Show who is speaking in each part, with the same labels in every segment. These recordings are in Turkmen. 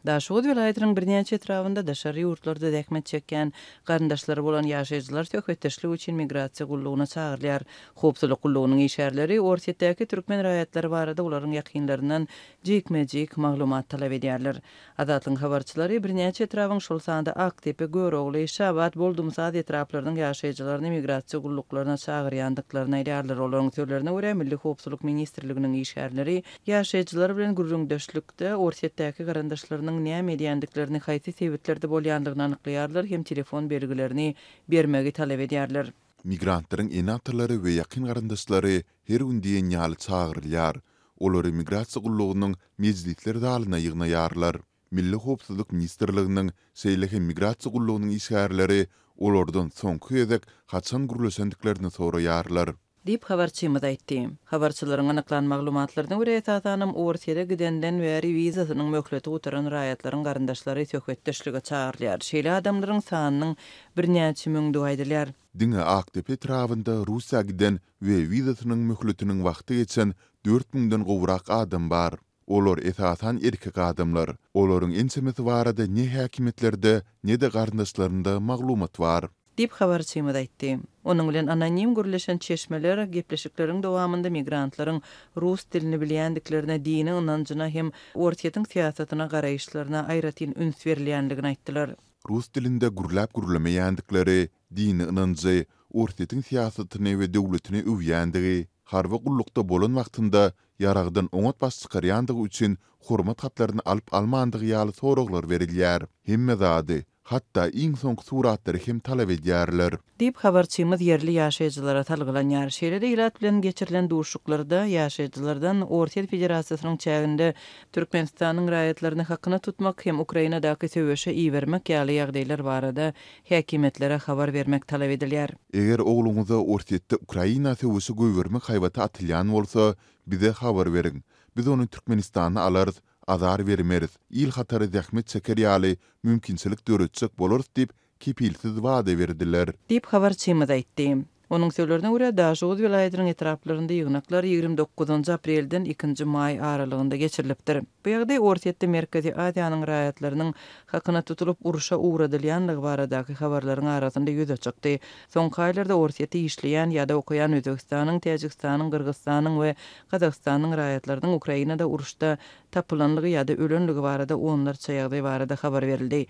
Speaker 1: Daşoguz welaýatynyň birnäçe etrabynda daşary ýurtlarda zähmet çekýän garyndaşlary bolan ýaşaýjylar söhbetdeşlik üçin migrasiýa gullugyna çagyrylýar. Howpsuzlyk gullugynyň işgärleri Orsýetdäki türkmen raýatlary barada olaryň ýakynlaryndan jikme-jik maglumat talap edýärler. Azatlygyň habarçylary birnäçe etrabyň, şol sanda Akdepe, Görogly, Şabat, Boldumsaz etraplarynyň ýaşaýjylaryny migrasiýa gulluklaryna çagyrýandyklaryny aýdýarlar. Olaryň sözlerine görä, Milli howpsuzlyk ministrliginiň işgärleri Ýaşaýjylar bilen gürrüňdeşlikde Orsýetdäki garyndaşlarynyň näme edýändiklerini, haýsy sebitlerde bolýandygyny anyklaýarlar hem telefon belgilerini bermegi talap edýärler. Migrantlaryň
Speaker 2: ene-atalary we ýakyn garyndaşlary her gün diýen ýaly çagyrylýar. Olary migrasiýa gullugynyň mejlisler zalyna ýygnaýarlar. Milli howpsuzlyk ministrliginiň, şeýle hem Migrasiýa gullugynyň işgärleri olardan soňky gezek haçan gürleşendiklerini soraýarlar. Diýip, habarçymyz
Speaker 1: aýtdy. Habarçylaryň anyklan maglumatlaryna görä, esasanam Orsýete gidenden bäri wizasynyň möhleti gutaran raýatlaryň garyndaşlary söhbetdeşlige çagyrylýar. Şeýle adamlaryň sanynyň birnäçe müňdügi aýdylýar. Diňe Akdepe
Speaker 2: etrabynda Russiýa giden we wizasynyň möhletiniň wagty geçen dört müňden gowrak adam bar. Olar esasan erkek adamlar. Olaryň ençemesi barada ne häkimiýetlerde, ne-de garyndaşlarynda maglumat bar. Diýip, habarçymyz
Speaker 1: aýtdy. Onuň bilen anonim gürleşen çeşmeler gepleşikleriň dowamynda migrantlaryň rus dilini bilýändiklerine, dini ynanjyna hem Orsýetiň syýasatyna garaýyşlaryna aýratyn üns berilýändigini aýtdylar. Rus dilinde
Speaker 2: gürläp-gürlemeýändikleri, dini ynanjy, Orsýetiň syýasatyny we döwletini öwýändigi, harby gullukda bolan wagtynda ýaragdan oňat baş çykarýandygy üçin hormat hatlaryny alyp-almandygy ýaly soraglar berilýär. Hemme zady, hatda iň soňky suratlary hem talap edýärler. Diýip, habarçymyz
Speaker 1: ýerli ýaşaýjylara salgylanýar. Şeýle-de ilat bilen geçirilen duşuşyklarda ýaşaýjylardan Orsýet Federasiýasynyň çäginde Türkmenistanyň raýatlaryny hakyna tutmak hem Ukrainadaky söweşe ibermek ýaly ýagdaýlar barada häkimiýetlere habar bermek talap edilýär. Eger ogluňyza
Speaker 2: Orsýetde Ukraina söweşi goýbermek haýbaty atylýan bolsa, bize habar beriň. Biz ony Türkmenistana alarys, azar bermeris, il hatary zähmet çeker ýaly mümkinçilik döretjek bolarys diýip, kepilsiz wada berdiler. Diýip, habarçymyz
Speaker 1: aýtdy. Onuň sözlerine görä, Daşoguz welaýatynyň etraplarynda ýygnaklar ýigrimi dokuzynjy aprelden ikinji maý aralygynda geçirilipdir. Bu ýagdaý Orsýetde Merkezi Aziýanyň raýatlarynyň hakyna tutulyp urşa ugradylýanlygy baradaky habarlaryň arasynda ýüze çykdy. Soňky aýlarda Orsýetde işleýän ýa-da okaýan Özbegistanyň, Täjigistanyň, Gyrgyzstanyň we Gazagystanyň raýatlarynyň Ukrainada uruşda tapylanlygy ýa-da ölenligi barada onlarça ýagdaý barada habar berildi.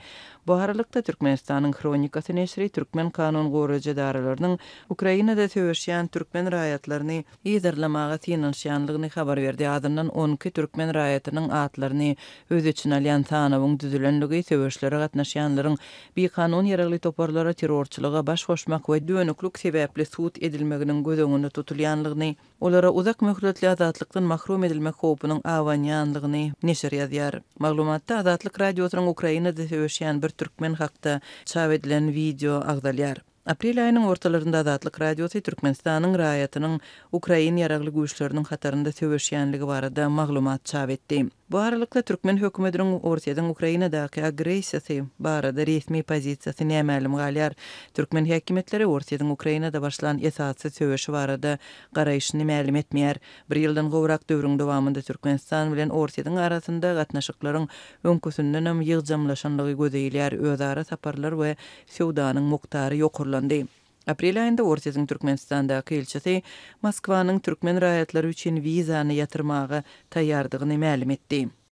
Speaker 1: Bu aralykda, Türkmenistanyň Hronikasy neşiri türkmen kanun goraýjy edaralarynyň Ukrainada söweşýän türkmen raýatlaryny yzarlamaga synanyşýanlygyny habar berdi, azyndan on iki türkmen raýatynyň atlaryny öz içine alýan sanawyň düzülenligi söweşlere gatnaşýanlaryň bikanun ýaragly toparlara terrorçylyga baş goşmak we dönüklik sebäpli sud edilmeginiň göz öňünde tutulýanlygyny Olara uzak möhletli azatlykdan mahrum edilmek howpunyň abanýanlygyny neşir ýazýar. Maglumatda Azatlyk Radiosynyň Ukrainada söweşýän bir türkmen hakda çap edilen wideo agzalýar. Aprel aýynyň ortalarynda Azatlyk Radiosy Türkmenistanyň raýatynyň ukrain ýaragly güýçleriniň hatarynda söweşýänligi barada maglumat çap etdi. Bu aralykda, türkmen hökümetiniň Orsýetiň Ukrainadaky agressiýasy barada resmi pozisiýasy nämälim galýar. Türkmen häkimiýetleri Orsýetiň Ukrainada başlan esassyz söweşi barada garaýşyny mälim etmeýär. Bir ýyldan gowrak döwrüň dowamynda Türkmenistan bilen Orsýetiň arasynda gatnaşyklaryň öňküsindenem ýygjamlaşanlygy göze ilýär, özara saparlar we söwdanyň mukdary ýokarlandy. Aprel aýynda Orsýetiň Türkmenistandaky ilçisi Moskwanyň türkmen raýatlary üçin wizany ýatyrmaga taýýardygyny mälim etdi.